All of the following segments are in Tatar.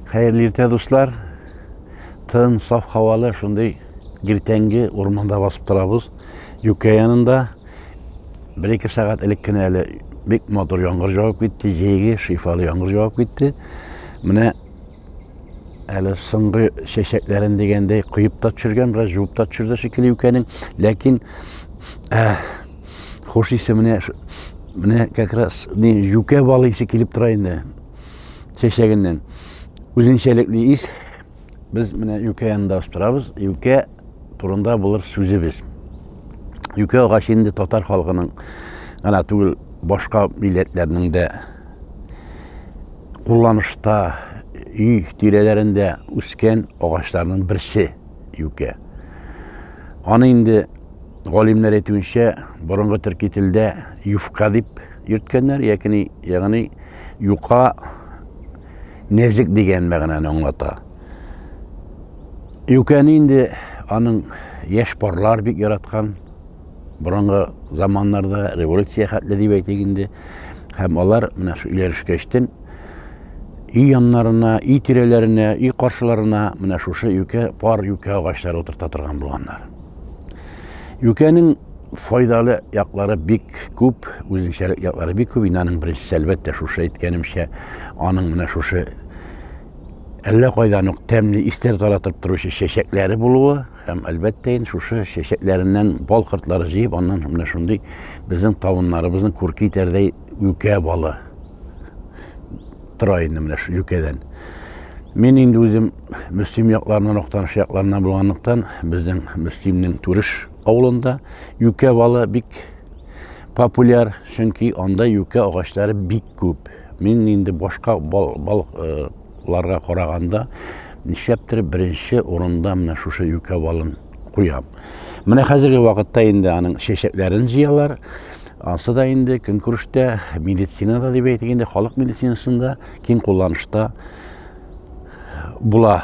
Хәерле иртә, дуслар! Тын, саф һавалы, шундый иртәнге урманда басып торабыз. Юкә янында бер-ике сәгать элек кенә әле бик матур яңгыр жауып китте, җәйге шифалы яңгыр жауып китте. Менә әле соңгы чәчәкләрен дигәндәй коеп та төшергән, бераз жуып та төшерде шикелле икәнең. Ләкин ә, хуш исе менә менә как раз не юкә балы исе килеп тора инде. чәчәгеннән үзенчәлекле ис. Без менә юкә янында остырабыз. Юкә турында булыр сүзебез. Юкә агачы инде татар халкының гына түгел, башка милләтләрнең дә кулланышта өй тирәләрендә үскән агачларның берсе юкә. Аны инде галимнәр әйтүенчә, борынгы төрки телдә юфка дип йөрткәннәр, ягъни ягъни Юка нәзек дигән мәгънәне аңлата. Юкәне инде аның яшь парлар бик яраткан. Борынгы заманнарда революция хәтле дип әйтик инде. Һәм алар менә шу өйләрешкәчтен өй яннарына, өй тирәләренә, өй каршыларына менә шушы юкә, пар юкә агачлары утырта торган булганнар. Юкәнең Файдалы яклары бик күп, үзенчәлек яклары бик күп. Инде аның беренчесе, әлбәттә, шушы әйткәнемчә, аның менә шушы әллә кайдан ук тәмле истәр таратып торучы чәчәкләре булуы һәм әлбәттә инде шушы чәчәкләреннән бал кортлары җыеп аннан менә шундый безнең табыннарыбызның күрке итәрдәй юкә балы тора инде менә шул юкәдән Мин инде үзем Мөслим якларыннан, Актаныш якларыннан булганлыктан, безнең Мөслимнең Түреш авылында юкә балы бик популяр, чөнки анда юкә агачлары бик күп. Мин инде башка балыкларга караганда нишләптер беренче урында менә шушы юкә балын куям. Менә хәзерге вакытта инде аның чәчәкләрен җыялар. Ансы да инде көнкүрештә, медицинада дип әйтик инде, халык медицинасында киң кулланышта була,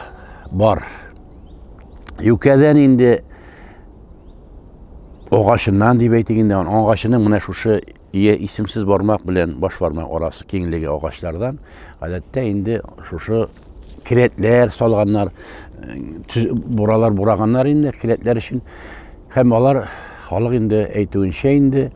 бар. юкәдән инде агачыннан дип әйтик инде агачының менә шушы исемсез бармак белән баш бармак арасы киңлеге агачлардан гадәттә инде шушы келәтләр салганнар э, буралар бураганнар инде келәтләр өчен һәм алар халык инде әйтүенчә инде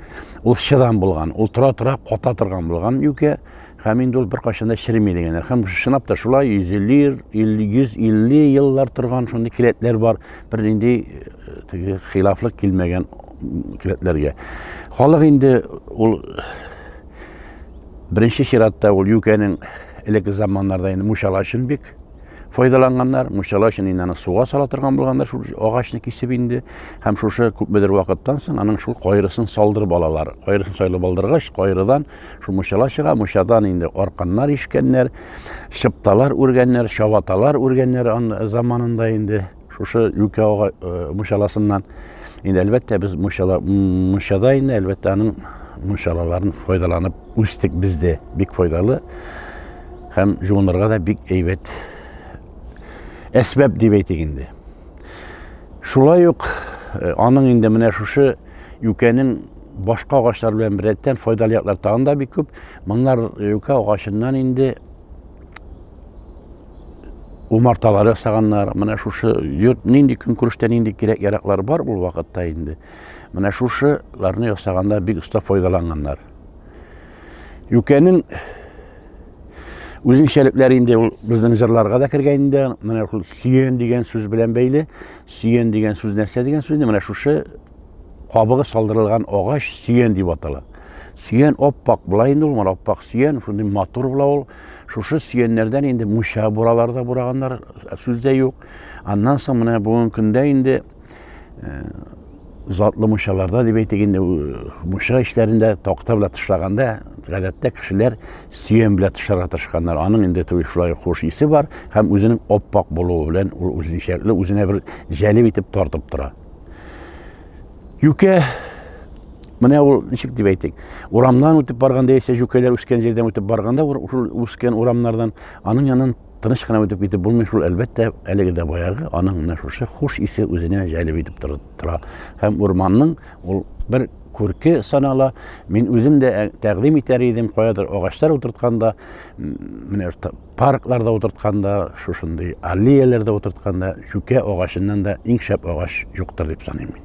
ул чыдам булган ул тора тора ката торган булган юкә Һәм инде ул беркайчан да череми дигәннәр. Һәм чынлап та шулай 150 150 еллар торган шундый келәтләр бар. Бер нинди э, теге хилафлык килмәгән келәтләргә. Халык инде ул беренче чиратта ул юкәнең элекке заманнарда инде мушала өчен бик файдаланганнар мунчала өчен инде аны суга сала торган булганнар шул агачны кисеп инде һәм шушы күпмедер вакыттан соң аның шул кайрысын салдырып алалар кайрысын сайлап алдыргач кайрыдан Шул мочала чыга, мочадан инде арканнар ишкәннәр, чыпталар үргәннәр, чабаталар үргәннәр заманында инде шушы юкә ага э, мочаласыннан. Инде әлбәттә без мочала мочада инде әлбәттә аның мочалаларын файдаланып үстек бездә. Бик файдалы һәм җуынырга да бик әйбәт әсбәп дип әйтик инде. Шулай ук э, аның инде менә шушы Юкәнең башка агачлар белән беррәттән файдалы яклар тагын да бик күп. Моннар юкә агачыннан инде умарталар ясаганнар. Менә шушы йорт нинди көнкүрештә нинди кирәк яраклар бар ул вакытта инде. Менә шушыларны ясаганда бик оста файдаланганнар. Юкәнең үзенчәлекләре инде ул безнең җырларга да кергән инде. Менә ул сөен дигән сүз белән бәйле. Сөен дигән сүз нәрсә дигән сүз? Менә шушы кабыгы салдырылган агач сөен дип атала. Сөен оппак була инде ул, менә оппак сөен, шундый матур була ул. Шушы сөеннәрдән инде муша буралар да бураганнар, сүз дә юк. Аннан соң менә бүгенге көндә инде э, затлы мунчаларда дип әйтик инде, мунча эчләрендә такта белән тышлаганда, гадәттә кешеләр сөен белән тышларга тырышканнар. Аның инде туй шулай хуш исе бар һәм үзенең оппак булуы белән ул үзенчәлекле, үзенә бер җәлеп итеп тартып тора. Юкә Менә ул ничек дип әйтик, урамнан үтеп барганда яисә җүкәләр үскән җирдән үтеп барганда, ул үскән урамнардан аның янын Тыныч кына үтеп китеп булмый шул, әлбәттә, әлеге дә баягы, аның менә шушы хуш исе үзенә җәлеп итеп тора. Һәм урманның ул бер күрке санала. Мин үзем дә э, тәкъдим итәр идем, каядыр агачлар утыртканда, менә паркларда утыртканда, шушындый аллеяләрдә утыртканда, чүкә агачыннан да иң шәп агач юктыр дип саныйм мин.